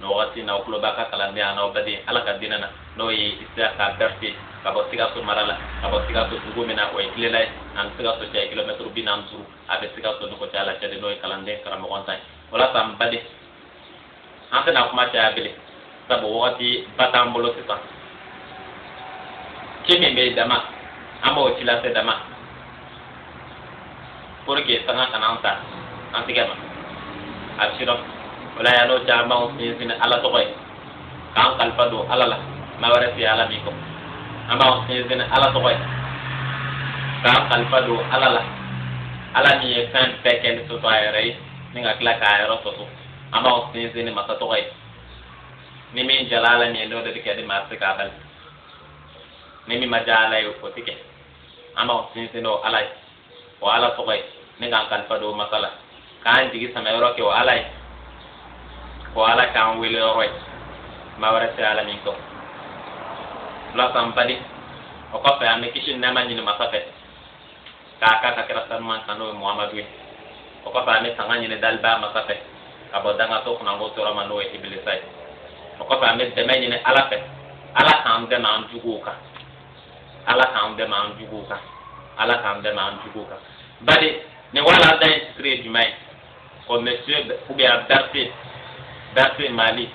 nin wagati na aw tulo b'aw ka kalanden an'aw baden ala ka dina na n'o ye isiyaka bɛrite ka bɔ sikaso mara la ka bɔ sikaso dugu min na o ye kilela ye an ni sikaso cɛ kilomɛtiri bi naani duuru a bɛ sikaso ni kucala cɛ de n'o ye kalanden karamɔgɔntan ye o la sa n baden an tɛna kuma caya bele sabu wagati ba t'an bolo sisan ci min bɛ dama an b'o ci lase dama pour que tanga kana an ta an tigɛ ma a bɛ sidɔn o la yann'o cɛ an b'an sinsin ala tɔgɔ ye k'an kalifa don ala la maa wɛrɛ tɛ ala min kɔ an b'an sinsin ala tɔgɔ ye k'an kalifa don ala la ala min ye fɛn bɛɛ kɛ ni soso a yɛrɛ ye ni ka tila k'a yɔrɔ soso an b'an sinsin ni masa tɔgɔ ye ni min diyala ala min ye n'o de bɛ kɛ ni maa tɛ se k'a bali ni min ma diya ala ye o tɛ kɛ an b'an sinsin n'o ala ye o ala tɔgɔ ye ni k'an kalifa don o masa la k'an jigi sɛmɛ yɔrɔ kɛ o ala ye k'o ala k'an wele yɔrɔ ye maa wɛrɛ tɛ ala min kɔ o la sa n baden o kɔfɛ an bɛ kisi ni nɛɛma ɲini masa fɛ k'a k'a ka kira sanuman kan n'o ye muhamadu ye o kɔfɛ an bɛ tanga ɲini dalibaa masa fɛ ka bɔ dangatɔ kunnango tɔɔrɔ ma n'o ye ibilisa ye o kɔfɛ an bɛ dɛmɛ ɲini ala fɛ ala k'an dɛmɛ an juguw kan ala k'an dɛmɛ an juguw kan ala k'an dɛmɛ an juguw kan baden nin walanda in titre ye jumɛn ye ko monsieur ou bien bɛrite bɛrite mali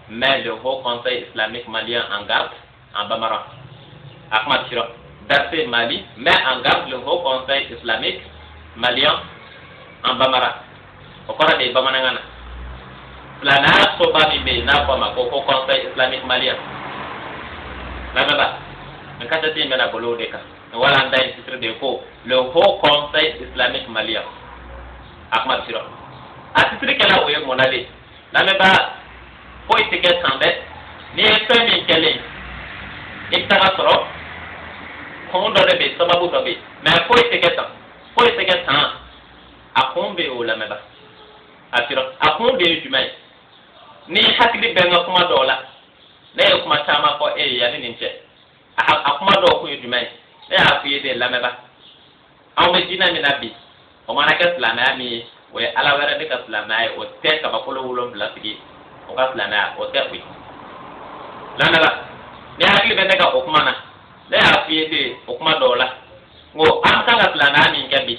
met le haut conseil islamique malien en garde en bambara a kuma sira bɛrite mali met en garde le haut conseil islamique malien en bambara o kɔrɔ de ye bamanankan na silamɛ soba min bɛ yen n'a fɔ a ma ko haut conseil islamique malien lamɛnba nin kasɛti in bɛna boli o de kan walanda in titre de ye ko le haut conseil islamique malien a kuma bɛ sira a titre kɛla o ye mun na de lamɛnba foyi tɛ kɛ tan dɛ n'i ye fɛn min kɛlen i bɛ tag'a sɔrɔ kun dɔ de bɛ yen sababu dɔ bɛ yen mais foyi tɛ kɛ tan foyi tɛ kɛ tan a kun bɛ o lamɛnba a sira a kun de ye jumɛn ye n'i hakili bɛ n ka kuma dɔw la ne ye kuma caman fɔ e ye yanni nin cɛ a kuma dɔw kun ye jumɛn ye ne y'a f'i ye de lamɛnba anw bɛ diinɛ min na bi o mana kɛ silamɛya min ye o ye ala wɛrɛ de ka silamɛya ye o tɛ kabakolo wolonwula tigi o ka silamɛya o tɛ o ye lamɛnba n'i hakili bɛ ne ka o kuma na ne y'a f'i ye de o kuma dɔw la n ko an kan ka silamɛya min kɛ bi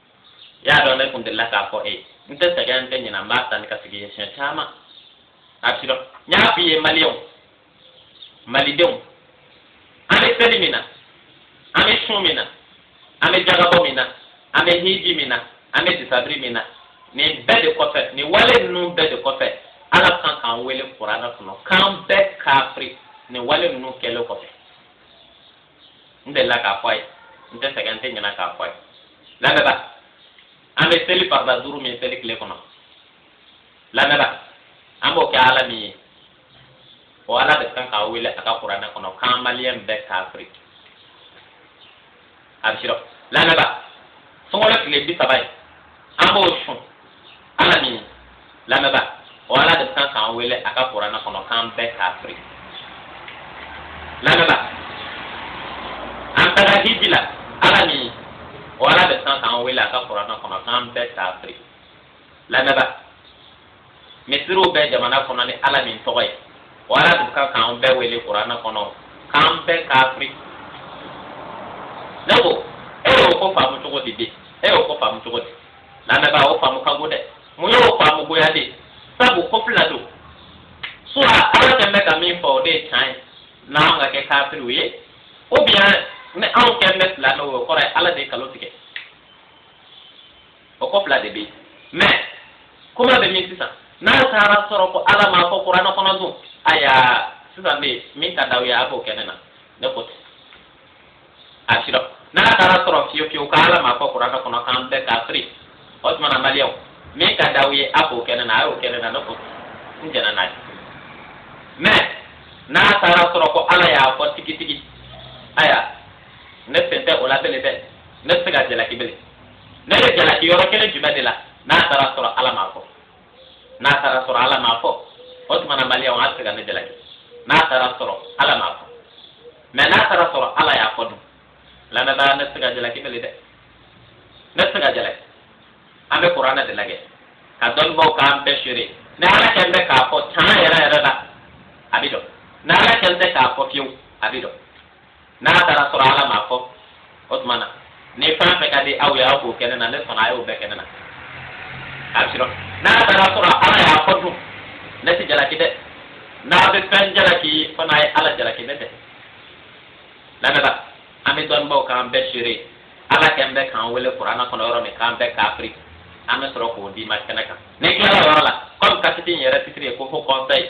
i y'a dɔn ne kun delila k'a fɔ e ye n tɛ sɛgɛn n tɛ ɲinɛ n b'a ta ni ka sigi ye siɲɛ caman a bɛ dɔn n y'a f'i ye maliyɛnw malidenw an bɛ seli min na an bɛ sun min na an bɛ jaka bɔ min na an bɛ hiji min na an bɛ disabiri min na nin bɛɛ de kɔfɛ nin wale ninnu bɛɛ de kɔfɛ ala kan k'an wele kuranɛ kɔnɔ k'an bɛɛ kafiri nin wale ninnu kɛlen kɔfɛ n delila k'a fɔ a ye n tɛ sɛgɛn n tɛ ɲinɛ k'a fɔ a ye lamɛnba an bɛ seli farida duuru min seli tile kɔnɔ lamɛnba an b'o kɛ ala min ye o ala de kan k'an wele a ka kuranɛ kɔnɔ k'an maliyɛn bɛɛ kafiri a bɛ sɔrɔ lamɛnba sunkalo tile bi saba ye an b'o sun ala min ye lamɛnba o ala de kan k'an wele a ka kuranɛ kɔnɔ k'an bɛɛ kafiri lamɛnba an taara hiji la ala min ye o ala de kan k'an wele a ka kuranɛ kɔnɔ k'an bɛɛ kafiri lamɛnba misiriw bɛ jamana kɔnɔ ni ala min tɔgɔ ye o ala de kan k'an bɛɛ wele kuranɛ kɔnɔ k'an bɛɛ kafiri ne ko e y'o ko faamu cogo di bi e y'o ko faamu cogo di lamɛnbaa o faamu ka go dɛ mun y'o faamu goya de ye sabu ko fila don soit ala kɛn bɛ ka min fɔ o de ye can ye n'an ka kɛ kafiriw ye ou bien ni anw kɛn bɛ silamɛw ye o kɔrɔ ye ala de ye kalon tigɛ o ko fila de bɛ yen mɛ kuma bɛ min sisan n'a taara sɔrɔ ko ala m'a fɔ kuranɛ kɔnɔ dun ayiwa sisan fɛn min ka d'aw ye a k'o kɛ ne na ne ko ten a sɔrɔ n'a taara sɔrɔ fiyewu fiyewu ko ala m'a fɔ kuranɛ kɔnɔ k'an bɛɛ kafiri o tuma na maliyɛnw min ka d'aw ye a k'o kɛ ne na a y'o kɛ ne na ne ko n jɛnna n'a ye mɛ n'a taara sɔrɔ ko ala y'a fɔ tigitigi ayiwa ne sen tɛ o la bele dɛ ne tɛ se ka jalaki bele ne bɛ jalaki yɔrɔ kelen jumɛn de la n'a taara sɔrɔ ala m'a fɔ n'a taara sɔrɔ ala m'a fɔ o tuma na maliyɛnw a bɛ se ka ne jalaki n'a taara sɔrɔ ala m'a fɔ mɛ n'a taara sɔrɔ ala y'a fɔ dun lamɛnbaa ne tɛ se ka jalaki bele dɛ ne tɛ se ka jalaki an bɛ kuranɛ de lajɛ ka dɔnnibaw k'an bɛɛ seere ni ala kɛlen bɛ k'a fɔ tan yɛrɛ yɛrɛ la a bɛ dɔn ni ala kɛlen bɛ k'a fɔ fiyewu a bɛ dɔn n'a taara sɔrɔ ala m'a fɔ o tuma na ni fɛn fɛn ka di aw ye aw k'o kɛ ne na ne sɔnna a y'o bɛɛ kɛ ne na a bɛ sɔrɔ n'a taara sɔrɔ ala y'a fɔ dun ne tɛ jalaki dɛ n'a bɛ fɛn jalaki fana a ye ala jalaki ne tɛ lamɛnba an bɛ dɔnnibaaw k'an bɛɛ seere ala kɛn bɛ k'an wele kuranɛ kɔnɔ yɔrɔ min k'an bɛɛ kafiri an bɛ sɔrɔ k'o d'i ma kɛnɛ kan ne tilala o yɔrɔ la kɔmi kasɛti in yɛrɛ titiri ye ko fo kɔnfɛ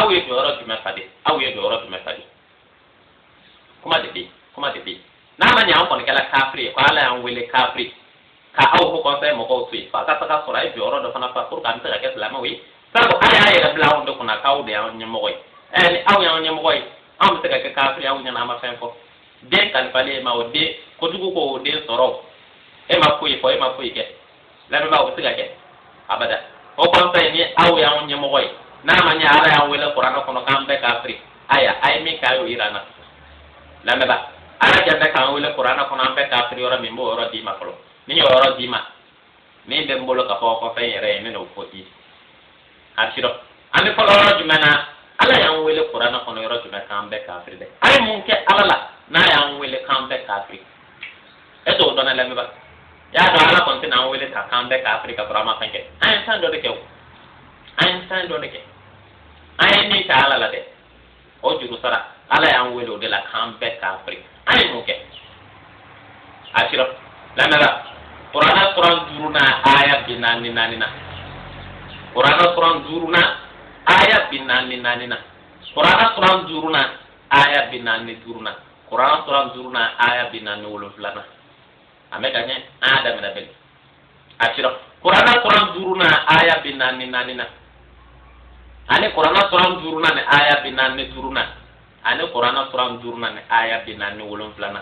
aw ye jɔyɔrɔ jumɛn fa de aw ye jɔyɔrɔ jumɛn fa de kuma de bɛ kuma de bɛ n'a ma ɲɛ an kɔni kɛla kafiri ye ko ala y'an wele kafiri ka aw haut conseil mɔgɔw to yen fo a ka taga sɔrɔ a ye jɔyɔrɔ dɔ fana fa pour que an bɛ se ka kɛ silamɛw ye sabu a y'a yɛrɛ bila anw de kunna k'aw de y'an ɲɛmɔgɔ ye ɛ ni aw y'an ɲɛmɔgɔ ye anw bɛ se ka kɛ kafiri aw ɲɛna an ma fɛn fɔ den kalifalen e ma o den kojugu ko o den sɔrɔ e ma foyi fɔ e ma foyi kɛ lamɛnbaa o tɛ se ka kɛ abada haut conseil ni aw y'an ɲɛmɔgɔ ye n'a ma ɲɛ ala y'an wele kuranɛ kɔnɔ k'an bɛɛ kafiri aya aya min k'a y'o yira an na lamɛnbaa ala kɛlen bɛ k'an wele kuranɛ kɔnɔ an bɛɛ kafiri yɔrɔ min n b'o yɔrɔ d'i ma fɔlɔ ni n y'o yɔrɔ d'i ma min bɛ n bolo ka fɔ haut conseil yɛrɛ ye n bɛn'o fɔ i ye kafiri an bɛ fɔlɔ yɔrɔ jumɛn na ala y'an wele kuranɛ kɔnɔ yɔrɔ jumɛn k'an bɛɛ kafiri dɛ an ye mun kɛ ala la n'a y'an wele k'an bɛɛ kafiri e t'o dɔn wa lamɛnba i y'a dɔn ala kɔni tɛna an wele tan k'an bɛɛ kafiri ka sɔrɔ an ma fɛn kɛ an ye fɛn dɔ de kɛ o an ye fɛn dɔ de kɛ an ye min kɛ ala la dɛ o juru sara ala y'an wele o de la k'an bɛɛ kafiri an ye mun kɛ a filɛ lamɛnba kuranɛ suran duuru na aya bi naani naani na kuranɛ suran duuru na aya bi naani naani na kuranɛ suran duuru na aya bi naani duuru na kuranɛ suran duuru na aya bi naani wolonwula na a mɛ ka ɲɛ an y'a daminɛ bɛɛ a filɛ kurana suran duuruna aya bi naani naani na ani kurana suran duuruna ni aya bi naani duuruna ani kurana suran duuruna ni aya bi naani wolonwula na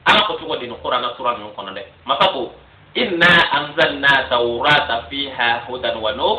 ala ko cogo di ni kurana sura ninnu kɔnɔ dɛ masa ko inna anzalna tawrata fiha hudan wa nur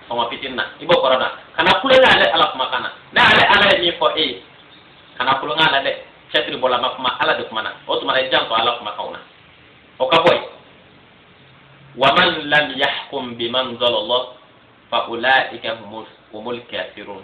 kuma fitini na i b'o kɔrɔ dɔn kana tulon kɛ ale ala kumakan na ne ale ala ye min fɔ e ye kana tulon kɛ a la dɛ tafsiri bɔla ma kuma ala de kumana o tuma na i janto ala kumakanw na o ka bɔ yen waman lam yahkum bima anzalallahu fa ulaika humul kafirun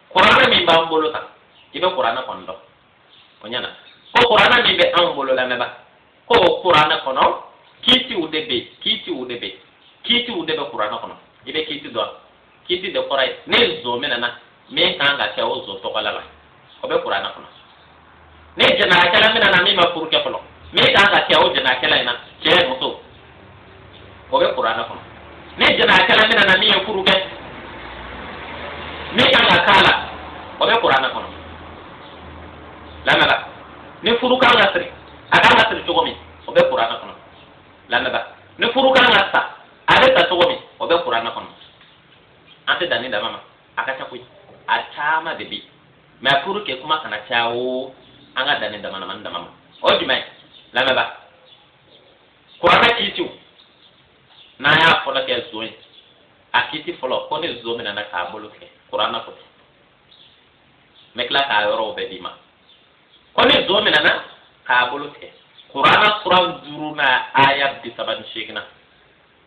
kuranɛ min b'an bolo sisan i bɛ kuranɛ kɔni dɔn o ɲɛna ko kuranɛ min bɛ anw bolo lamɛnba ko o kuranɛ kɔnɔ kiitiw de bɛ yen kiitiw de bɛ yen kiitiw de bɛ kuranɛ kɔnɔ i bɛ kiiti dɔn kiiti de kɔrɔ ye ni zon minɛna min kan ka kɛ o zon tɔgɔla la o bɛ kuranɛ kɔnɔ ni jɛnɛyakɛla minɛna min ma furu kɛ fɔlɔ min kan ka kɛ o jɛnɛyakɛla in na cɛ ni muso o bɛ kuranɛ kɔnɔ ni jɛnɛyakɛla minɛna min ye furu kɛ min kan ka k'a la o bɛ kuranɛ kɔnɔ lamɛnba ni furu kan ka siri a kan ka siri cogo min o bɛ kuranɛ kɔnɔ lamɛnba ni furu kan ka sa a bɛ sa cogo min o bɛ kuranɛ kɔnɔ an tɛ dan nin dama ma a ka ca koyi a caman de bɛ yen mais pour que kuma kana caya o an ka dan nin damadamanin dama ma o ye jumɛn ye lamɛnba kuranɛ kiitiw n'an y'a fɔlɔ kɛ zon ye a kiiti fɔlɔ ko ni zon minɛna k'a bolo tigɛ kuranɛ ko ten n bɛ tila k'a yɔrɔw bɛɛ d'i ma ko ni zon minɛna k'a bolo tigɛ kuranɛ suran duurunan aya bi saba ni seeginnan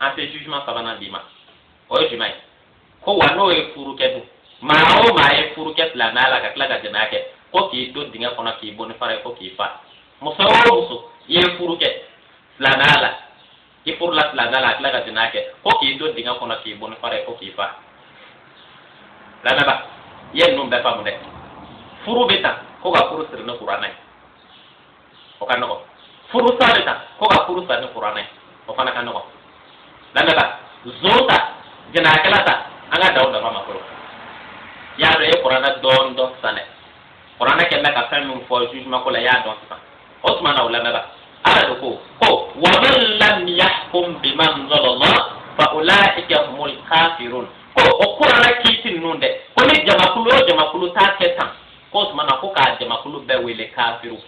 an tɛ jugement sabanan d'i ma o ye jumɛn ye ko wa n'o ye furu kɛ dun maa o maa ye furu kɛ silamɛya la ka tila ka jɛnɛya kɛ ko k'i don dingɛ kɔnɔ k'i bon ni fara ye ko k'i fa muso o muso i ye furu kɛ silamɛya la i furula silamɛya la a tila ka jɛnɛya kɛ ko k'i don dingɛ kɔnɔ k'i bon ni fara ye ko k'i fa lamɛnba i ye ninnu bɛɛ faamu dɛ furu bɛ ta ko ka furu siri ni kuranɛ ye o ka nɔgɔ furu sali ta ko ka furu sa ni kuranɛ o fana ka nɔgɔ lamɛnba zon ta jɛnɛyakɛla ta an ka dan o dama ma fɔlɔ y'a dɔn e ye kuranɛ dɔɔni dɔn sisan dɛ kuranɛ kɛlen bɛ ka fɛn min fɔ jugement ko la y'a dɔn sisan o tuma na o lamɛnba ala de ko ko wa man lam yahkum bima anzala Allah fa ulaika humul kafirun ko o kuranɛ kiiti ninnu dɛ ko ni jamakulu o jamakulu t'a kɛ tan k'o tuma na ko k'a jamakulu bɛɛ wele kafiriw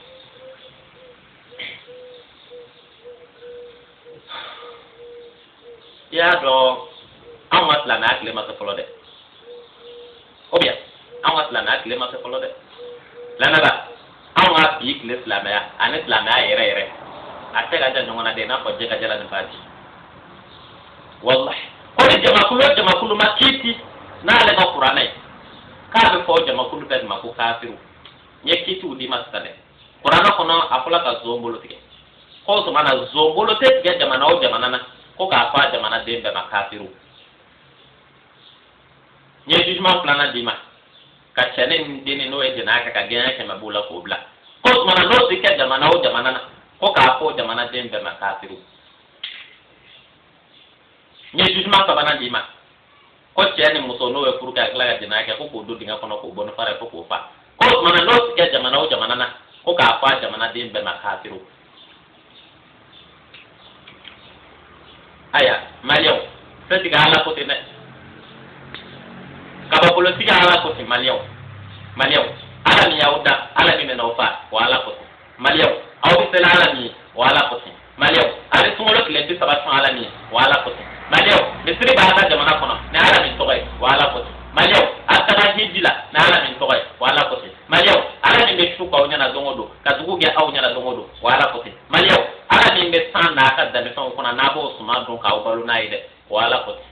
i y'a dɔn anw ka silamɛya tile ma se fɔlɔ dɛ ou bien anw ka silamɛya tile ma se fɔlɔ dɛ lamɛnba anw ka bi tile silamɛya ani silamɛya yɛrɛ yɛrɛ a cɛ ka jan ɲɔgɔn na dɛ i n'a fɔ jɛgɛ jalan ni baji walahi ko ni jamakulu o jamakulu ma kiiti n'ale ka kuranɛ ye k'a bɛ fɔ jamakulu bɛɛ ma ko kafiru n ye kiitiw d'i ma sisan dɛ kuranɛ kɔnɔ a fɔla ka zon bolo tigɛ ko o tuma na zon bolo tɛ tigɛ jamana o jamana na ko k'a fɔ a jamana den bɛɛ ma kafiru n ye jugement filanan d'i ma ka cɛni ni denni n'o ye jɛnɛya kɛ ka gɛnɲɛ kɛmɛ b'o la k'o bila ko o tuma na n'o tɛ kɛ jamana o jamana na ko k'a fɔ o jamana den bɛɛ ma kafiru n ye jugement sabanan d'i ma ko cɛ ni muso n'o ye furu kɛ a tila ka jɛnɛya kɛ ko k'o don dingɛ kɔnɔ k'o bon ni fara ye fo k'o fa ko o tumana n'o ti kɛ jamana o jamana na ko k'a fɔ a jamanaden bɛɛ ma kaafiriw aya maliyɛnw se tigi ala ko ten dɛ kabakolo tigi ala ko ten maliyɛnw maliyɛnw ala min y'aw da ala min bɛna aw fa o ala ko ten maliyɛw aw bɛ seli ala min ye o ala ko di maliyɛw a bɛ sunkalo tile bi saba sun ala min ye o ala ko di maliyɛw misiri b'a ka jamana kɔnɔ ni ala min tɔgɔ ye o ala ko di maliyɛw a bɛ taga hiji la ni ala min tɔgɔ ye o ala ko di maliyɛw ala min bɛ su k'aw ɲɛna don o don ka dugu jɛ aw ɲɛna don o don o ala ko di maliyɛw ala min bɛ san n'a ka dannifɛnw kɔnɔ n'a b'o suman dun k'aw balo n'a ye dɛ o ala ko di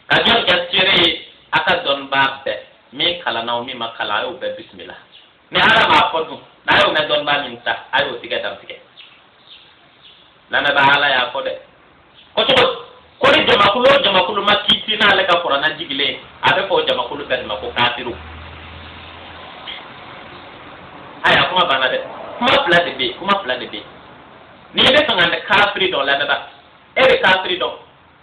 ka jɔn kɛ seere ye a ka dɔnnibaa bɛɛ min kalanna o min ma kalan a y'o bɛɛ bisimila ni ala m'a fɔ dun n'a y'o mɛn dɔnnibaa min ta a y'o tigi dantigɛ lamɛnbaa ala y'a fɔ dɛ kɔcogo ko ni jamakulu o jamakulu ma kiti n'ale ka kuranɛ jigilen a bɛ fɔ o jamakulu bɛɛ de ma ko kafiriw aya kuma banna dɛ kuma fila de bɛ yen kuma fila de bɛ yen n'i b'a fɛ ka kafiri dɔn lamɛnbaa e bɛ kafiri dɔn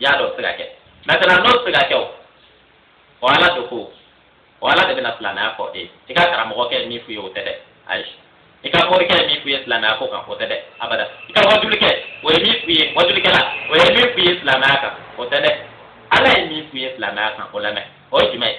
y'a dɔn o tɛ ka kɛ maintenant n'o tɛ ka kɛ o o ala de ko o ala de bɛna silamɛya fɔ e i ka karamɔgɔkɛ ye min f'u ye o tɛ dɛ ayi i ka morikɛ ye min f'u ye silamɛya ko kan o tɛ dɛ abada i ka wajulikɛ o ye min f'u ye wajulikɛla o ye min f'u ye silamɛya kan o tɛ dɛ ala ye min f'u ye silamɛya kan o lamɛn o ye jumɛn ye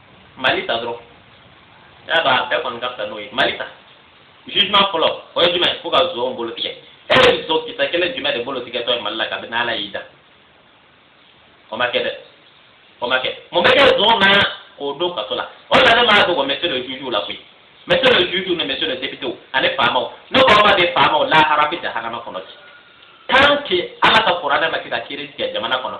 mali ta dɔrɔn i y'a dɔn a bɛɛ kɔni ka fisa n'o ye mali ta jugement fɔlɔ o ye jumɛn ko ka zon bolo tigɛ e ye zon kisɛ kelen jumɛn de bolo tigɛtɔ ye mali la kabini ala y'i da o ma kɛ dɛ o ma kɛ mun bɛ kɛ zon na k'o don kaso la o de la ne m'a dogo monsieur le juge la koyi monsieur le juge ni monsieur le député ani faamaw ne ko mali faamaw lahara bɛ jahanama kɔnɔ bi tant que ala ka kuranɛ ma se ka kiiri tigɛ jamana kɔnɔ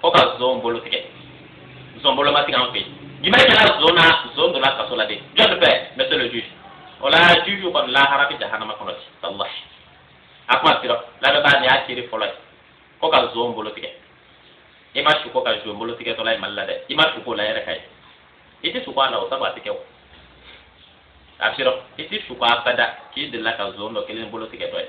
ko ka zon bolo tigɛ zon bolo ma tigɛ an fɛ yen jumɛn kɛra zon na zon donna kaso la de jɔn fɛ monsieur le juge o la juge kɔni lahara bɛ jahanama kɔnɔ bi walahi a kuma sira lamɛnbaa nin y'a kiri fɔlɔ ye ko ka zon bolo tigɛ i ma suko ka zon bolo tigɛtɔla ye mali la dɛ i ma suk'o la yɛrɛ k'a ye i tɛ suko a la o sabu a tɛ kɛ o a sira i tɛ suko abada k'i delila ka zon dɔ kelen bolo tigɛtɔ ye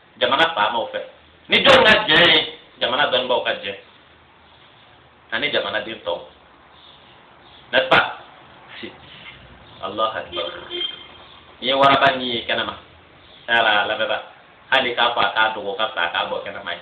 jamana faamaw fɛ ni jɔn ka jɛ ye jamana dɔnnibaaw ka jɛ ani jamanaden tɔw n'est-ce pas allahu akbar n'i ye waraba ɲin ye kɛnɛma ala lamɛnba hali k'a fɔ a k'a dogo ka fisa a k'a bɔ kɛnɛma ye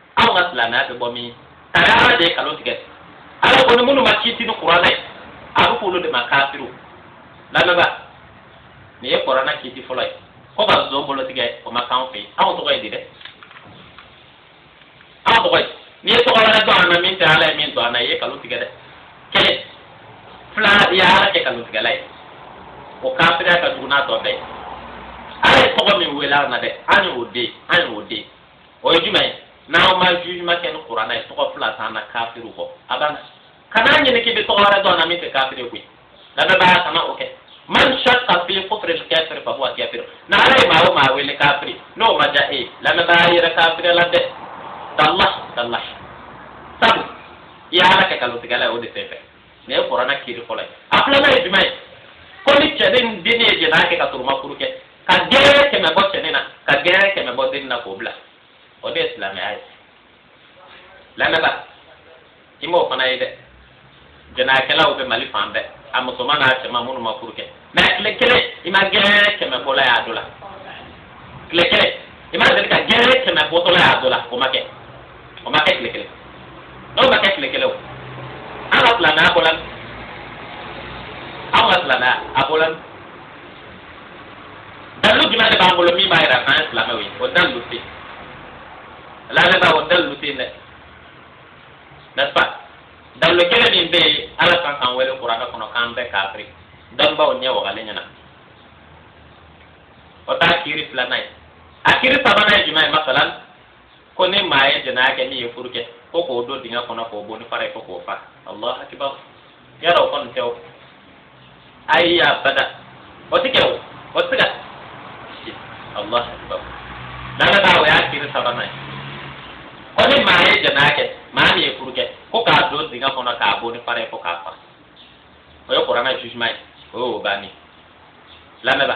anw ka silamɛya bɛ bɔ min a ye ala de ye kalon tigɛ ala ko ni minnu ma kiti ni kuranɛ ye a bɛ f'olu de ma kafiri lamɛnba nin ye kuranɛ kiti fɔlɔ ye ko ka zon bolo tigɛ o ma k'anw fɛ yen anw tɔgɔ ye di dɛ anw tɔgɔ ye n'i ye tɔgɔ wɛrɛ don an na min tɛ ala ye min don an na i ye kalon tigɛ dɛ kelen filanan i ye ala kɛ kalontigɛla ye o kafiriya ka jugu n'a tɔ bɛɛ ye ala ye tɔgɔ min wele an na dɛ an y'o de an y'o de o ye jumɛn ye n'an ma jugement kɛ ni kuranɛ ye tɔgɔ fila t'an na kafiriw kɔ a banna kana ɲini k'i bɛ tɔgɔ wɛrɛ don an na min tɛ kafiri ye koyi lamɛnbaa kana o kɛ man shakka fi kufri al-kafir fa huwa kafir ni ala ye maa o maa wele kafiri n'o ma diya e ye lamɛnbaa yɛrɛ kafirila dɛ tallahi tallahi sabu i ye ala kɛ nkalontigɛla ye o de fɛ fɛ nin ye kuranɛ kiri fɔlɔ ye a filanan ye jumɛn ye ko ni cɛnin ni denni ye jɛnɛya kɛ ka sɔrɔ u ma furu kɛ ka gɛɲɛ kɛmɛ bɔ cɛnin na ka gɛɲɛ kɛmɛ bɔ denni na k'o bila o de ye silamɛya ye lamɛnba i m'o fana ye dɛ jɛnɛyakɛlaw bɛ mali fan bɛɛ a musoman n'a cɛman minnu ma furu kɛ mais tile kelen i ma gɛɲɛ kɛmɛ bɔla y'a dɔ la tile kelen i ma deli ka gɛɲɛ kɛmɛ bɔtɔla y'a dɔ la o ma kɛ o ma kɛ tile kelen n'o ma kɛ tile kelen o an ka silamɛya bɔla an ka silamɛya a bɔla dalilu jumɛn de b'an bolo min b'a yira k'an ye silamɛw ye o dalilu tɛ yen lamɛnba o dalilu tɛ yen dɛ n'est-ce pas dalilu kelen min bɛ yen ala kan k'an wele kuranɛ kɔnɔ k'an bɛɛ kafiri dɔnnibaw ɲɛ wagalen ɲɛna o t'a kiri filanan ye a kiri sabanan ye jumɛn ye masalan ko ni maa ye jɛnɛya kɛ min ye furu kɛ ko k'o don dingɛ kɔnɔ k'o bon ni fara ye fo k'o faa alahu akibaru yɔrɔ o kɔni tɛ o ayi abada o ti kɛ o o ti kɛ allah akbar lamɛnba o y'a kiri sabanan ye ko ni maa ye jɛnɛya kɛ maa min ye furu kɛ ko k'a don dingɛ kɔnɔ k'a bon ni fara ye fo k'a faa o ye kuranɛ jugement ye o y'o bannen lamɛnba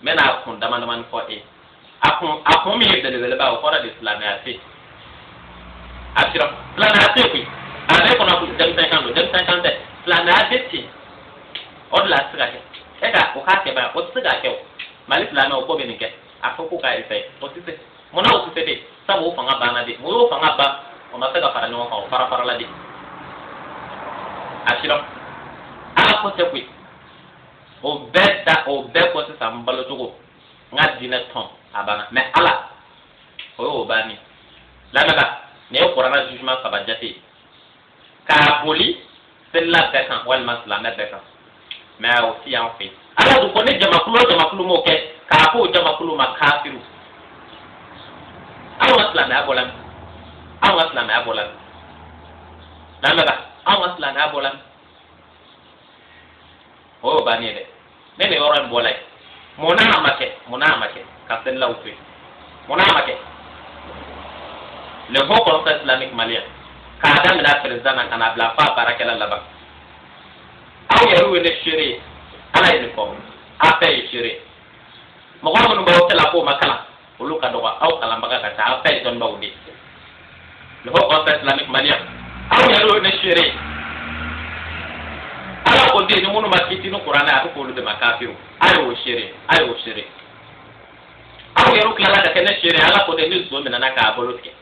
n bɛna a kun dama damani fɔ e a kun a kun min ye belebeleba o kɔrɔ de silamɛya tɛ a sira silamɛya tɛ koyi a bɛ kɔnɔ ko denmisɛn kan don denmisɛn kan tɛ silamɛya tɛ ten o de la a tɛ se ka kɛ e ka o k'a kɛ ba o tɛ se k'a kɛ o mali silamɛ o ko bɛ nin kɛ a fɔ ko k'a ye fɛ o tɛ se mun na o tɛ se de sabu o fanga banna de mun y'o fanga ban o ma se ka fara ɲɔgɔn kan o farafarala de a sira ala ko tɛ koyi. o bɛɛ ta o bɛɛ kɔ sisan n balo cogo n ka diinɛ tɔn a banna mais ala o y'o banni lamɛnba nin ye kuranɛ jugement saba jate ye k'a boli selila bɛɛ kan walima silamɛ bɛɛ kan mais o si t'an fɛ ala dun ko ni jamakulu o jamakulu m'o kɛ k'a k'o jamakulu ma kafiriw anw ka silamɛya bɔla min anw ka silamɛya bɔla min lamɛnba anw ka silamɛya bɔla min o y'o bannen ye dɛ ne bɛ yɔrɔ in bɔ la ye mun n'a ma kɛ mun n'a ma kɛ ka selilaw to yen mun n'a ma kɛ le haut conseil islamique malien k'a daminɛ a président na ka n'a bila f'a baarakɛla laban aw yɛrɛw ye ne seere ye ala ye nin fɔ aw bɛɛ ye seere mɔgɔ minnu b'aw cɛla k'u ma kalan olu ka dɔgɔ aw kalanbaga ka ca aw ta ye dɔnnibaw de ye le haut conseil islamique malien aw yɛrɛw ye ne seere ye ala ko ten ni minnu ma kiti ni kuranɛ a bɛ k'olu de ma kafiri a y'o seere a y'o seere aw yɛrɛw tilala ka kɛ ne seere ala ko ten ni zon minɛna k'a bolo tigɛ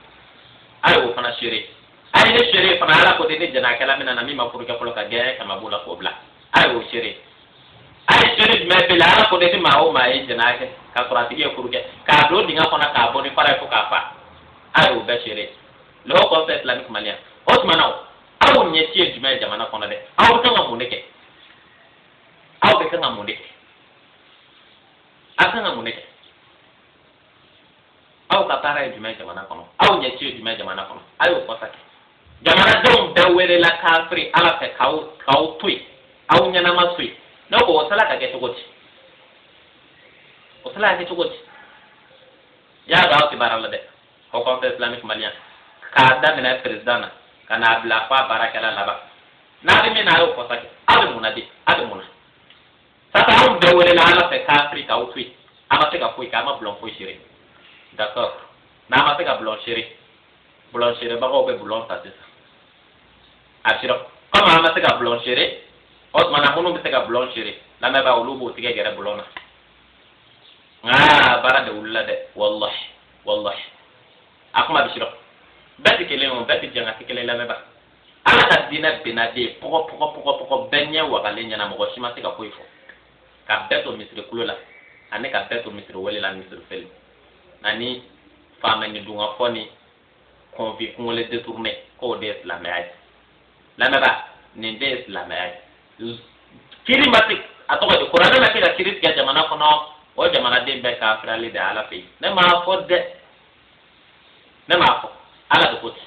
a y'o fana seere a ye ne seere fana ala ko ten ni jɛnakɛla minɛna min ma furu kɛ fɔlɔ ka gɛɲɛ kɛmɛ b'o la k'o bila a y'o seere a ye seere jumɛn bɛ la ala ko ten ni maa o maa ye jɛnɛ kɛ ka sɔrɔ a tigi ye furu kɛ k'a don dingɛ kɔnɔ k'a bon ni fara ye fo k'a faa a y'o bɛɛ seere le haut conseil islamique malien o tuma na aw ɲɛci ye jumɛn ye jamana kɔnɔ dɛ aw bɛ kan ka mun de kɛ aw bɛ kan ka mun de kɛ aw kan ka mun de kɛ aw ka baara ye jumɛn jamana kɔnɔ aw ɲɛci ye jumɛn jamana kɔnɔ a y'o fɔ sa kɛ jamanadenw bɛɛ welela kafiri ala fɛ k'aw k'aw to yen aw ɲɛnama to yen ne ko o sela ka kɛ cogo di o sela ka kɛ cogo di y'a dɔn aw tɛ baara la dɛ haut conseil islamique malien k'a daminɛ perezidan na ka n'a bila f'a baarakɛla laban n'a bɛ min na a y'o fɔ sa kɛ aw bɛ mun na de aw bɛ mun na sisan anw bɛɛ welela ala fɛ kafiri k'aw to yen aw ma se ka foyi kɛ aw ma bulon foyi sere d'accord n'aw ma se ka bulon sere bulon serebagaw bɛ bulon ta sisan a sira komi aw ma se ka bulon sere o tuma na minnu bɛ se ka bulon sere lamɛnbaa olu b'o tigɛ gɛrɛ bulon na nka baara de wulila dɛ walahi walahi a kuma bɛ sira bɛɛ tɛ kelen ye o bɛɛ tɛ jɛn ka kɛ kelen lamɛnbaa ala ka diinɛ binna de pɔgɔ pɔgɔ pɔgɔ pɔgɔ bɛɛ ɲɛ wagalen ɲɛna mɔgɔ si ma se ka foyi fɔ ka bɛɛ to misiri kulo la ani ka bɛɛ to misiri wele la misiri seli ani faamɛni dunga fɔ ni kɔnfi kungolo detourne k'o de ye silamɛya ye lamɛnbaa nin de ye silamɛya ye kiri ma se a tɔgɔ di kuranɛ ma se ka kiri tigɛ jamana kɔnɔ o jamanaden bɛɛ kafirilen de ala fɛ yen ne m'a fɔ dɛ ne m'a fɔ ala de ko ten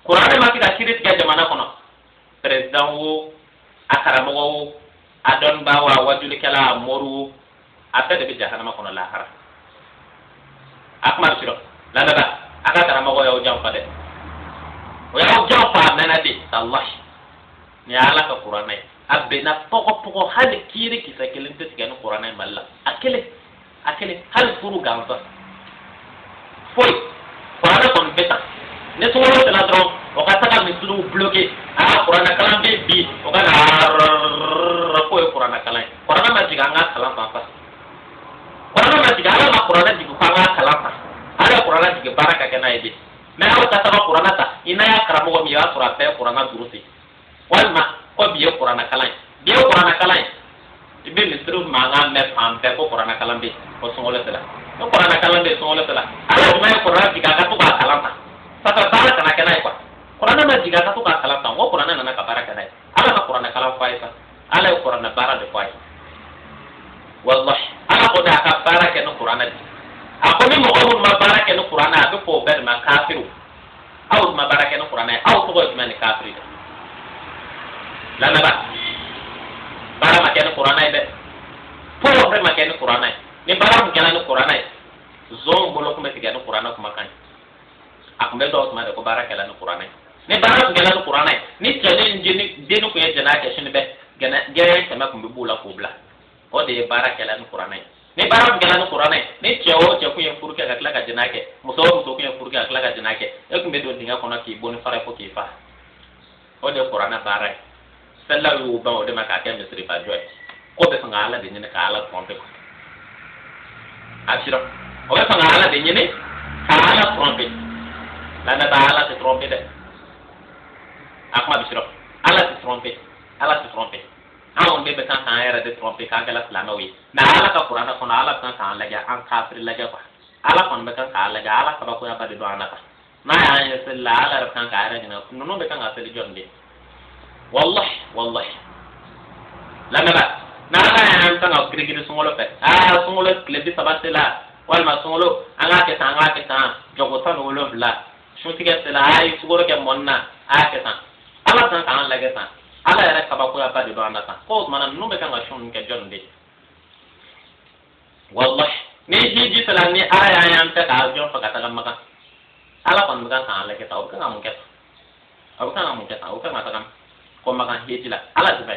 kuranɛ ma se ka kiri tigɛ jamana kɔnɔ peresidan wo a karamɔgɔ wo a dɔnnibaa wo a wajulikɛla a mori wo a bɛɛ de bɛ jahanama kɔnɔ lahara a kuma sirɔ ladada a ka karamɔgɔ y'aw janfa dɛ o y'aw janfa a mɛɛnna dɛ talahi nin ye ala ka kuranɛ ye a binna pɔgɔpɔgɔ hali kiri kisɛ kelen tɛ tigɛ ni kuranɛ ye mali la a kelen a kelen hali furu gansan foyi kuranɛ kɔni bɛ ta ni sunkalo sera dɔrɔn o ka taga misiriw bloke aa kuranɛkalan bɛ bi o ka na k'o ye kuranɛkalan ye kuranɛ ma jigin an k'a kalan tan kuranɛ ma jigin ala ma kuranɛ jigin k'an k'a kalan tan ala ye kuranɛ jigin baara ka kɛ n'a ye de mais aw ka taga kuranɛ ta i n'a y'a karamɔgɔ min ye o y'a sɔrɔ a bɛ kuranɛ durusi walima ko bi ye kuranakalan ye bi ye kuranakalan ye i bɛ misiri mankan mɛn fan bɛɛ ko kuranakalan bɛ yen ko sunkalo sera ko kuranakalan bɛ yen sunkalo sera ala o ma ye kuranɛ jigin a ka to k'a kalan tan sa baara kana kɛ n'a ye kuwa kuranɛ ma jigin a ka to k'a kalan tan ko kuranɛ nana ka baara kɛ n'a ye ala ma kuranakalan fɔ a ye sa ala ye kuranɛ baara de fɔ a ye walahi ala ko de a ka baara kɛ ni kuranɛ de ye a ko ni mɔgɔ minnu ma baara kɛ ni kuranɛ a bɛ fɔ o bɛɛ de ma kafiriw aw ma baara kɛ ni kuranɛ ye aw tɔgɔ ye jumɛn ni kafiri de lamɛnba baara ma kɛ ni kuranɛ ye dɛ fɔlɔ fɛn ma kɛ ni kuranɛ ye ni baara tun kɛra ni kuranɛ ye zɔn bolo tun bɛ tigɛ ni kuranɛ kumakan ye a tun bɛ dɔn o tuma de ko baara kɛra ni kuranɛ ye ni baara tun kɛra ni kuranɛ ye ni cɛni ni denni tun ye jɛnɛya kɛ sini bɛ gɛɲɛ kɛmɛ tun bɛ b'o la k'o bila o de ye baara kɛra ni kuranɛ ye ni baara tun kɛra ni kuranɛ ye ni cɛ o cɛ kun ye furu kɛ ka tila ka jɛnɛ kɛ muso o muso kun ye furu kɛ ka tila ka jɛnɛ kɛ e kun bɛ don dingɛ kɔnɔ k'i bon ni fara fo k'i fa o de ye kuranɛ baara ye selilaw y'u ban o de ma k'a kɛ misiriba jɔ ye k'o bɛ fɛ ka ala de ɲini ka ala trɔmpe kɔ a sira o bɛ fɛ ka ala de ɲini ka ala trɔmpe lamɛnba ala tɛ trɔmpe dɛ a kuma bɛ sira ala tɛ trɔmpe ala tɛ trɔmpe anw de bɛ kan k'an yɛrɛ de trɔmpe k'an kɛla silamɛw ye mɛ ala ka kuranɛ kɔnɔ ala bɛ kan k'an lajɛ an kafiri lajɛ kuwa ala kɔni bɛ kan k'an lajɛ ala kabakoyaba de don an na tan n'a y'an ye seli la ala yɛrɛ bɛ kan k'a yɛrɛ ɲininka ninnu bɛ kan ka seli jɔni de wallahi wallahi lamɛnba n'ala y'an kan ka girigiri sunkalo fɛ aa sunkalo tile bi saba sela walima sunkalo an k'a kɛ tan an k'a kɛ tan jɔko tan ni wolonwula sun tigɛ sera a ye sukaro kɛ mɔni na a y'a kɛ tan ala san k'an lajɛ tan ala yɛrɛ kabakoyaba de don an na tan k'o tuma na ninnu bɛ kan ka sun ninnu kɛ jɔni de ye walahi ni hiji sera ni ala y'an y'an bɛ ka avion fa ka taga makan ala kɔni bɛ kan k'an lajɛ tan o bɛ kan ka mun kɛ tan o bɛ kan ka mun kɛ tan o bɛ kan ka taga ko makan hiji la ala de bɛ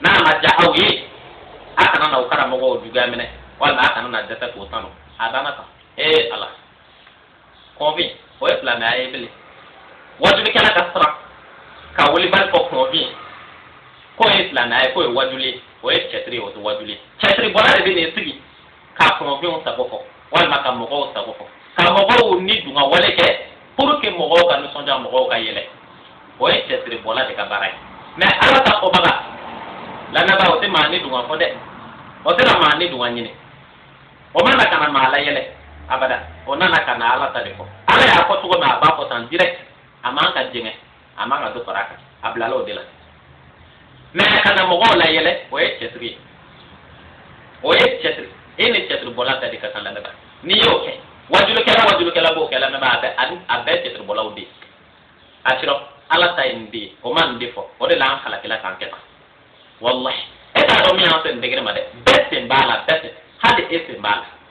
n'a ma diya aw ye a kana na o karamɔgɔw juguya minɛ walima a kana na dɛsɛ k'o tanu a danna tan ee ala kunfin o ye silamɛya ye bilen wajulikɛla ka siran ka wilibali fɔ kunfin k'o ye silamɛya ye k'o ye wajuli ye o ye cɛtiri ye o tɛ wajuli ye cɛtiri bɔla de bɛ n'i sigi ka kunfinw sago fɔ walima ka mɔgɔw sago fɔ ka mɔgɔw ni dunga wale kɛ pour que mɔgɔw ka nisɔndiya mɔgɔw ka yɛlɛ o ye cɛtiri bɔla de ka baara ye mɛ ala ta fɔbaga lamɛnba o tɛ maa ni dunga fɔ dɛ o tɛna maa ni dunga ɲini o ma na ka na maa layɛlɛ abada o nana ka na ala ta de fɔ ala y'a fɔ cogo min a b'a fɔ tan direct a man ka jɛngɛ a man ka dɔ fara a kan a bilala o de la mɛ ka na mɔgɔw layɛlɛ o ye tiyatiri ye o ye tiyatiri e ni tiyatiri bɔla ta de ka kan lamɛnba n'i y'o kɛ wajulikɛla wajulikɛla b'o kɛ lamɛnba a bɛ a bɛɛ tiyatiri bɔlaw de ye a sɔrɔ ala ta ye nin de ye o ma nin de fɔ o de la an halakila k'an kɛ tan walahi e t'a dɔn min y'an se nin degere ma dɛ bɛɛ sen b'a la bɛɛ sen hali e sen b'a la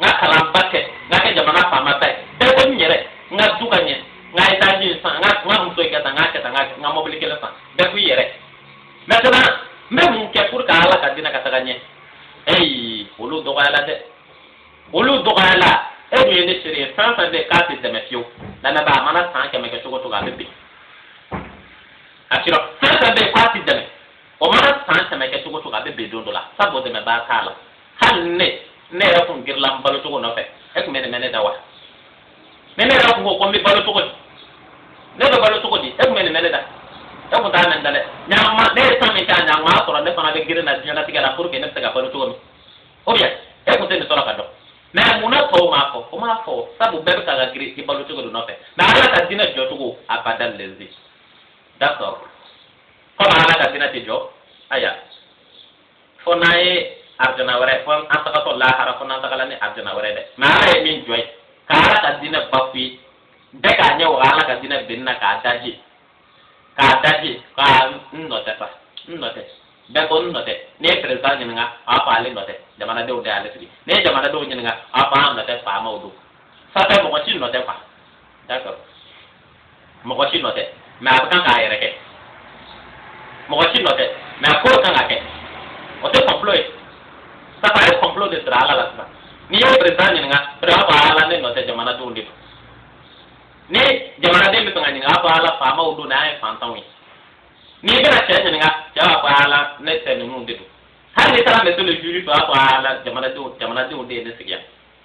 n ka kalanba kɛ n ka kɛ jamana faama ta ye bɛɛ ko n yɛrɛ n ka du ka ɲɛ n ka etazi san n ka n ka muso in kɛ tan n k'a kɛ tan n ka n ka mɔbili kelen san bɛɛ ko i yɛrɛ mɛtɛna n bɛ mun kɛ pour que ala ka dina ka taga ɲɛ eyi olu dɔgɔyala dɛ olu dɔgɔyala e dun ye ne seere ye fɛn fɛn bɛ yen k'a tɛ dɛmɛ fiyewu lamɛnba a mana san kɛmɛ kɛ cogo cogo a bɛ bin a sɔrɔ fɛn fɛn bɛ yen k'a tɛ dɛmɛ o mana san kɛmɛ kɛ cogo cogo a bɛ bin don dɔ la sabu dɛmɛbaa t'a la. hali ni ne yɛrɛ kun girinna n balo cogo nɔfɛ e kun bɛ nin mɛn ne da wa ni ne yɛrɛ kun ko ko n bɛ balo cogo di ne bɛ balo cogo di e kun bɛ nin mɛn ne da e kun t'a mɛn n da dɛ mɛ a ma ne ye san min kɛ a ɲɛ a ma sɔrɔ ne fana bɛ girin na diɲɛlatigɛ la pour que ne bɛ se ka balo cogo min ou bien e kun tɛ nin sɔrɔ k'a dɔn mɛ mun na tɔw m'a fɔ o m'a fɔ sabu bɛɛ bɛ ka ka girin i balo cogo de nɔfɛ mɛ ala ka diinɛ jɔ cogo a b'a délaisser d'accord komi ala ka diinɛ tɛ jɔ aya fo n'a ye arijana wɛrɛ fɔ an tagatɔ lahara fo n'an tagala ni arijana wɛrɛ dɛ mɛ ala ye min jɔ yen ka ala ka diinɛ bafouer bɛɛ k'a ɲɛ waga ala ka diinɛ binni na k'a da je k'a da je ko n nɔ tɛ sa n nɔ tɛ bɛɛ ko n nɔ tɛ n'i ye perezidan ɲininka a b'a fɔ ale nɔ tɛ jamanadenw de y'ale sigi n'i ye jamanadenw ɲininka a b'a fɔ an nɔ tɛ faamaw don ça fait mɔgɔ si nɔ tɛ quoi d'accord mɔgɔ si nɔ tɛ mɛ a bɛ kan k'a yɛrɛ kɛ mɔgɔ si nɔ tɛ mɛ a ko kan ka kɛ o tɛ complot ye sabu a ye complot de siri ala la sisan n'i ye perezidan ɲininka perezidan ko ala ne nɔ tɛ jamanadenw de don ni jamanaden bɛ fɛ ka ɲininka a fɔ ala faamaw don n'a ye fantanw ye n'i bɛna cɛ ɲininka cɛ b'a fɔ ala ne tɛ ninnu de don hali n'i taara mɛtiri juru fɛ a b'a fɔ ala jamanadenw jamanadenw de ye ne sigi yan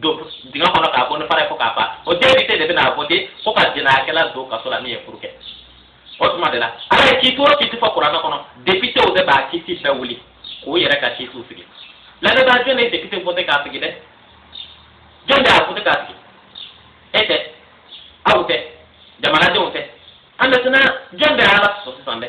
don dingɛ kɔnɔ k'a bon ni fara ye fo k'a ban o depite de bɛna a vote fo ka jɛnɛyakɛla don kaso la min ye furu kɛ o tuma de la ala ye kiti o kiti fɔ kuranɛ kɔnɔ depitew de b'a kiti bɛɛ wuli k'u yɛrɛ ka kitiw sigi lamɛnbaa jɔn de ye depite vote k'a sigi dɛ jɔn de y'a vote k'a sigi e tɛ aw tɛ jamanadenw tɛ a mɛtɛna jɔn de ye ala sɔsɔ sisan dɛ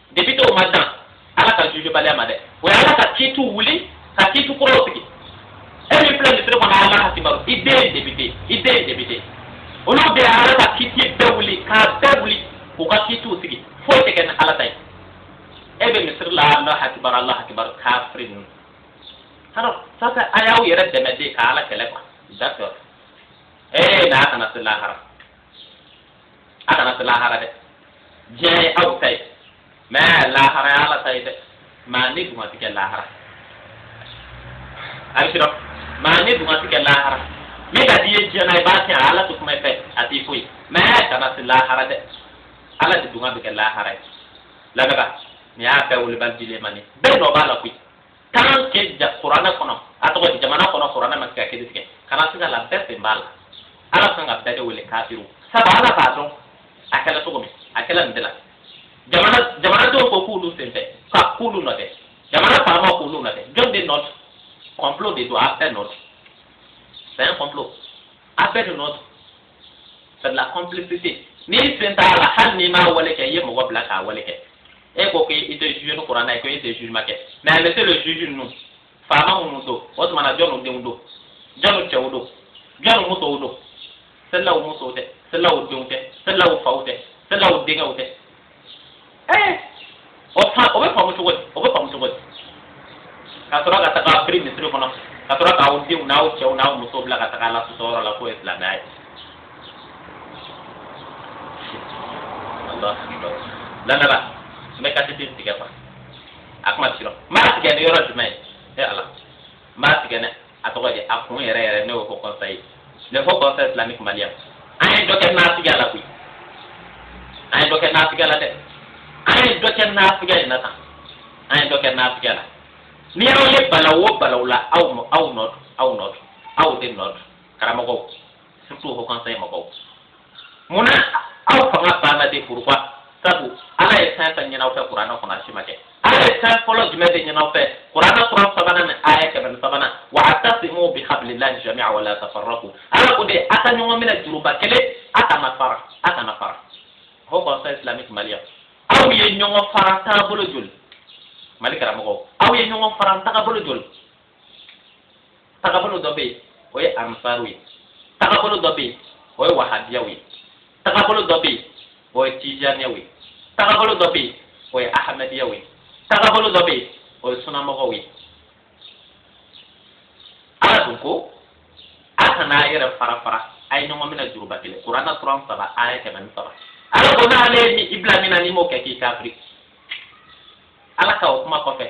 depitew ma dan ala ka juge baliya ma dɛ u ye ala ka kiitiw wuli ka kiitiw kɔrɔ sigi e min filɛ misiri kɔnɔ alahu akibaru i den depite i den depite olu de ala ka kiiti bɛɛ wuli k'a bɛɛ wuli k'u ka kiitiw sigi foyi tɛ kɛ ni ala ta ye e bɛ misiri la alahu akibaru alahu akibaru kafiri ninnu alors ça c'est a y'aw yɛrɛ dɛmɛ de ka ala kɛlɛ quoi d'accord ee n'a kana se lahara a kana se lahara dɛ diɲɛ aw ta ye mais lahara ye ala ta ye dɛ maa nin dungɔ ti kɛ lahara a bɛ sɔrɔ maa nin dungɔ ti kɛ lahara min ka d'i ye diɲɛ na i b'a kɛ ala ti kuma i fɛ a t'i foyi mais kana se lahara dɛ ala de dungɔ bɛ kɛ lahara ye lamɛnba nin y'a bɛɛ wele mali alimami bɛɛ nɔ b'a la koyi. tant que ja kuranɛ kɔnɔ a tɔgɔ di jamana kɔnɔ kuranɛ ma kɛ ka kiri tigɛ kana siga a la bɛɛ sen b'a la ala kan ka bɛɛ de wele kafiru sabu ala b'a dɔn a kɛra cogo min a kɛra nin de la jamana jamanadenw ko k'olu sen t'a la k'olu nɔ tɛ jamana faamaw k'olu nɔ tɛ jɔn de nɔ don complot de don a bɛɛ nɔ don c'est un complot a bɛɛ de nɔ don c'est de la complicité n'i sen t'a la hali n'i m'a wale kɛ i ye mɔgɔ bila k'a wale kɛ e ko k'i tɛ juger ni kuranna ye ko e tɛ jugement kɛ mais a laisser le juge ninnu faama minnu don o tuma na jɔniw denw don jɔniw cɛw don jɔniw musow don selilaw musow tɛ selilaw denw tɛ selilaw faw tɛ selilaw denkɛw tɛ ee o fa o bɛ faamu cogo di o bɛ faamu cogo di ka sɔrɔ ka taga firi misiri kɔnɔ ka sɔrɔ k'aw denw n'aw cɛw n'aw musow bila ka taga ala sɔsɔ yɔrɔ la k'o ye silamɛya ye. lamɛnba n bɛ kasi ti tigɛ kuwa a kuma sirɔ n b'a tigɛ ni yɔrɔ jumɛn ye e ala n b'a tigɛ dɛ. a tɔgɔ di a kun yɛrɛ yɛrɛ ne y'o fɔ conseil ne fɔ conseil islamique mali a ye dɔ kɛ naafigiya la koyi a ye dɔ kɛ naafigiya la dɛ a ye dɔ kɛ naafigiya la tan a ye dɔ kɛ naafigiya la ni y'aw ye balaw o balaw la aw nɔ aw nɔ aw nɔ aw de nɔ karamɔgɔw musow haut conseil mɔgɔw mun na aw fanga banna de kuruba sabu ala ye fɛn fɛn ɲin'aw fɛ kuranɛ kɔnɔ a si ma kɛ ala ye fɛn fɔlɔ jumɛn de ɲin'aw fɛ kuranɛ suran sabanan ni aya kɛmɛ ni sabanan wa a tasimu bi habilillahi jami'a wala tafarraku ala ko de a ka ɲɔgɔn minɛ juruba kelen a kana fara a kana fara haut conseil islamique mali aw ye ɲɔgɔn fara taabolo joli mali karamɔgɔ aw ye ɲɔgɔn fara tagabolo joli tagabolo dɔ bɛ yen o ye ansaru ye tagabolo dɔ bɛ yen o ye wahabiyaw ye tagabolo dɔ bɛ yen o ye tijaniyaw ye tagabolo dɔ bɛ yen o ye ahamadiyaw ye tagabolo dɔ bɛ yen o ye sunamɔgɔw ye ala dun ko a kana a yɛrɛ fara fara a ye ɲɔgɔn minɛ juruba kelen kuranna suran saba aya kɛmɛ ni saba ala ko n'ale ye i bila min na n'i m'o kɛ k'i kafiri ala ka o kuma kɔfɛ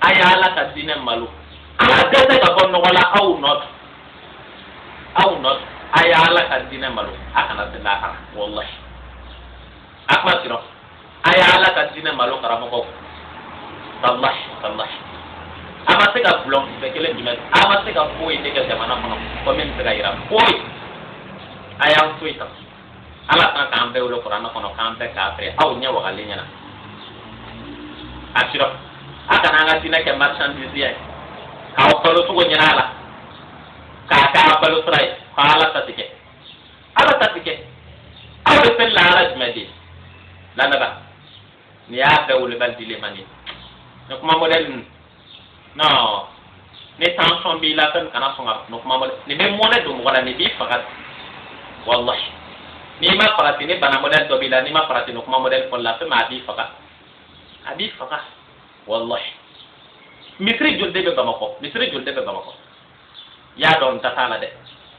a ye ala ka diinɛ malo aw dɛsɛ ka bɔ nɔgɔ la aw nɔ don aw nɔ don a ye ala ka diinɛ malo a kana se lahara walahi a kuma sirɔ a ye ala ka diinɛ malo karamɔgɔw walahi walahi a ma se ka bulɔn kisɛ kelen jumɛn a ma se ka foyi de kɛ jamana kɔnɔ kɔmi n bɛ se ka yira foyi a y'an to yen tan. ala kan k'an bɛɛ wele kuranɛ kɔnɔ k'an bɛɛ k'a filɛ aw ɲɛ wagalen ɲɛna a sira a kana an ka diinɛ kɛ marchandise ye k'aw balo cogo ɲini a la k'a kɛ a balo sira ye ka ala ta tigɛ ala ta tigɛ aw bɛ fɛn la ala jumɛn de lamɛnba nin y'a bɛɛ wolobali dilen man ye ne kuma mɔdɛli ninnu non ni tension b'i la fewu kana sɔn ka nin kuma mɛn dɛ nin bɛ mɔnɛ don mɔgɔ la nin b'i faga walahi n'i ma farati ni bana mɔdɛli dɔ b'i la n'i ma farati nin kuma mɔdɛli fɔli la fewu a b'i faga a b'i faga walahi misiri joli de bɛ bamakɔ misiri joli de bɛ bamakɔ y'a dɔn dan t'a la dɛ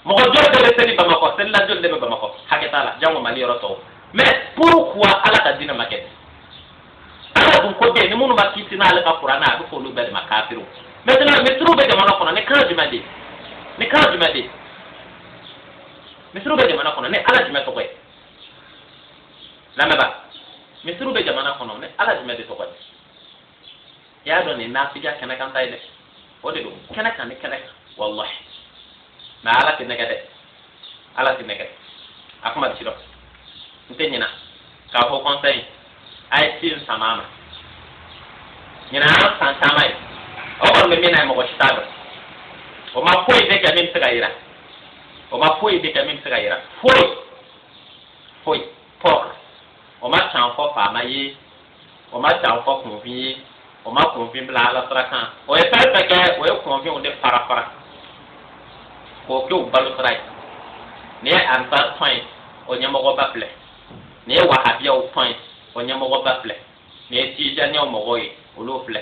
mɔgɔ joli de bɛ seli bamakɔ selila joli de bɛ bamakɔ hakɛ t'a la jango mali yɔrɔ tɔw mais pourquoi ala ka diinɛ ma kɛ ala dun ko bɛɛ ni minnu ma kiti n'ale ka kurana a bɛ f'olu bɛɛ de ma kafiriw maintenant misiriw bɛ jamana kɔnɔ ni kan jumɛn de ni kan jumɛn de misiriw bɛ jamana kɔnɔ ni ala jumɛn tɔgɔ ye lamɛnba misiriw bɛ jamana kɔnɔ ni ala jumɛn de tɔgɔ ye i y'a dɔn nin nafigiya kɛnɛ kan ta ye dɛ o de don kɛnɛ kan ni kɛnɛ kan walahi mɛ ala tɛ nɛgɛ dɛ ala tɛ nɛgɛ a kuma ti dɔn n tɛ ɲina k'a fɔ conseil a ye si in sama ma ɲina an san caman ye o kɔni bɛ min na ye mɔgɔ si t'a dɔn o ma foyi de kɛ min bɛ se ka yira o ma foyi de kɛ min bɛ se ka yira foyi foyi pɔr o ma can fɔ faama ye u ma can fɔ kunfin ye u ma kunfin bila ala sira kan u ye fɛn fɛn kɛ u ye kunfinw de fara fara k'u kɛ u balo sira ye nin ye ansar tɔn ye u ɲɛmɔgɔba filɛ nin ye wahabiyaw tɔn ye u ɲɛmɔgɔba filɛ nin ye tijaniyaw mɔgɔw ye olu filɛ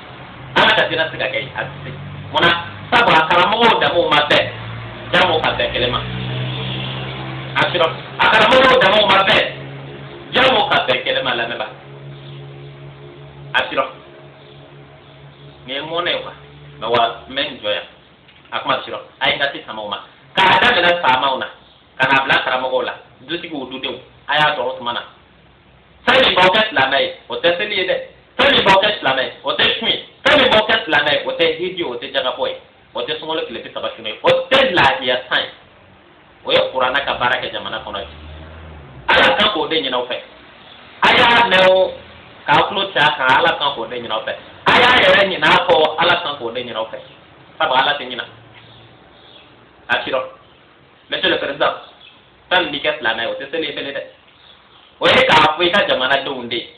an ka jatira se ka kɛ a tɛ se munna sabu a karamɔgɔw damaw ma bɛn jango ka bɛn kelen ma a sɔrɔ a karamɔgɔw damaw ma bɛn jango ka bɛn kelen ma lamɛnba a sɔrɔ nin ye mɔnɛ ye kuwa mɛ wa n bɛ n jɔ yan a kuma sɔrɔ a ye n ka se samaw ma k'a daminɛ faamaw na ka n'a bila karamɔgɔw la dutigiw dudenw a y'a sɔrɔ o tuma na. fɛn min b'aw kɛ silamɛ ye o tɛ seli ye dɛ fɛn min b'aw kɛ silamɛ ye o tɛ sun ye fɛn min b'aw kɛ silamɛ ye o tɛ hiji o tɛ jaka bɔ ye o tɛ sunkalo tile bi saba sun ye o tɛ lahiya san ye o ye kurana ka baara kɛ jamana kɔnɔ bi ala kan k'o de ɲin'aw fɛ a y'a mɛn o k'a tulo cɛ a kan ala kan k'o de ɲin'aw fɛ a y'a yɛrɛ ɲina a kɔ ala kan k'o de ɲin'aw fɛ sabu ala tɛ ɲina. Asiro. Monsieur le président. fɛn min b'i kɛ silamɛ ye o tɛ seli ye bilen dɛ o ye k'a fɔ i ka jamanadenw de ye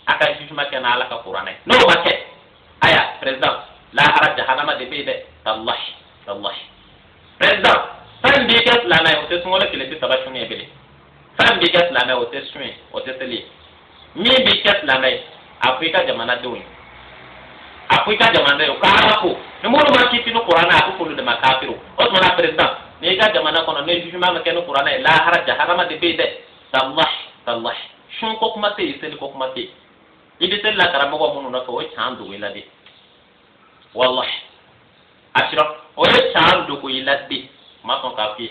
a ka jugement kɛ ni ala ka kuranɛ ye n'o ma kɛ aya président lahara jahanama de bɛ yen dɛ tallahi tallahi président fɛn min b'i kɛ silamɛ ye o tɛ sunkalo tile bi saba sun ye bilen fɛn b'i kɛ silamɛ ye o tɛ sun ye o tɛ seli ye min b'i kɛ silamɛ ye a fɔ i ka jamanadenw ye a fɔ i ka jamanadenw ye k'ala ko ni minnu ma kiiti ni kuranɛ a ko k'olu de ma kafiri o tuma na président ni e ka jamana kɔnɔ ni jugement ma kɛ ni kuranɛ ye lahara jahanama de bɛ yen dɛ tallahi tallahi sun ko kuma tɛ yen seli ko kuma tɛ yen i bɛ seli la karamɔgɔ minnu nɔfɛ u ye can dogo i la dɛ walahi asira u ye can dogo i la dɛ u ma sɔn k'a f'i ye